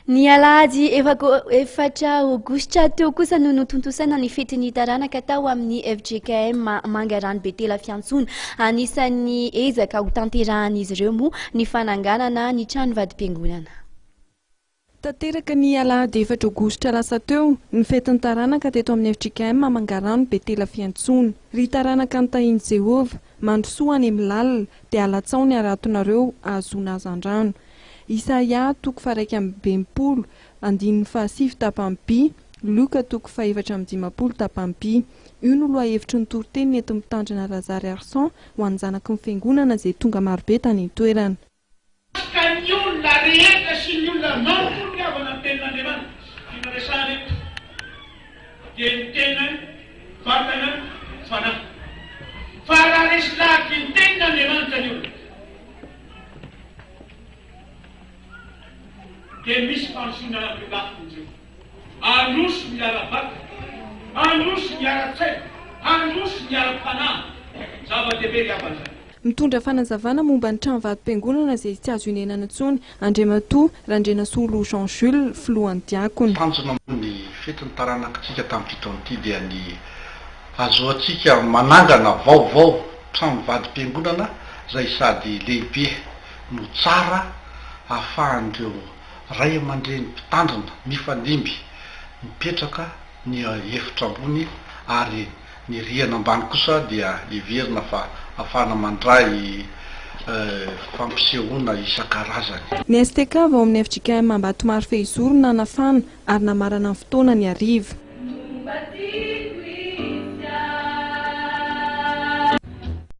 Ny alahady efatra aogositra teo kosa no notontosaina ny fetin'ny taranaka tao amin'ny fjkm Mangarano Betela Fiantsoana. Anisan'ny ezaka ho tanterahan'izy ireo moa ny fananganana ny trano vadim-piangonana. Tanteraka ny alahady efatra aogositra lasa teo ny fetin'ny taranaka teto amin'ny fjkm Mangarano Betela Fiantsoana. Ry taranaka nitahian'i Jehovah, Mandrosoa any amin'ny lalina, dia alatsaho ny haratonareo hahazoana hazandrano. Isaia toko faharaika amby enimpolo, andininy fahasivy tapany by, Luka toko fahefatra amby dimampolo tapany by. Io no lohahevitry ny toriteny nentin'ny Mpitandrina Razariarison ho an'ny zanaky ny Fiangonana izay tonga marobe tany an-toerana. Ka ny olona rehetra sy ny olona maro koa ry havana ny tenin'Andriamanitra sy tiana resahana eto dia ny tena vatana fanahy. Fa raha resy lahatra ny tenin'Andriamanitra ny olona dia misy fandrosoana avy eo lafiny indreo. Handroso ny ara-batana, handroso ny ara-tsaina, handroso ny ara-panahy. Zava-dehibe ry havana izany. Mitondra fanazavana momba ny tranovatom-piangonana izay tsy azo inenana intsony, Andriamatoa Randrianasolo Jean Jules, Filohan'ny Diakona. Tanjona moa ny fetin'ny taranakitsika tamin'ny fito taona ity dia ny hahazoantsika manangana vaovao tranovadi-piangonana izay sady lehibe no tsara ahafahan'ireo ray aman-dreny mpitandrina mifandimby mipetraka ny efitra ambony ary Ny rihana ambany kosa dia heverina fa afahana mandray fampisehoana isan-karazany. Ny STK avy ao amin'ny fjkm Ambatomaro Fehizoro no nanafana ary namarana ny fotoana ny hariva.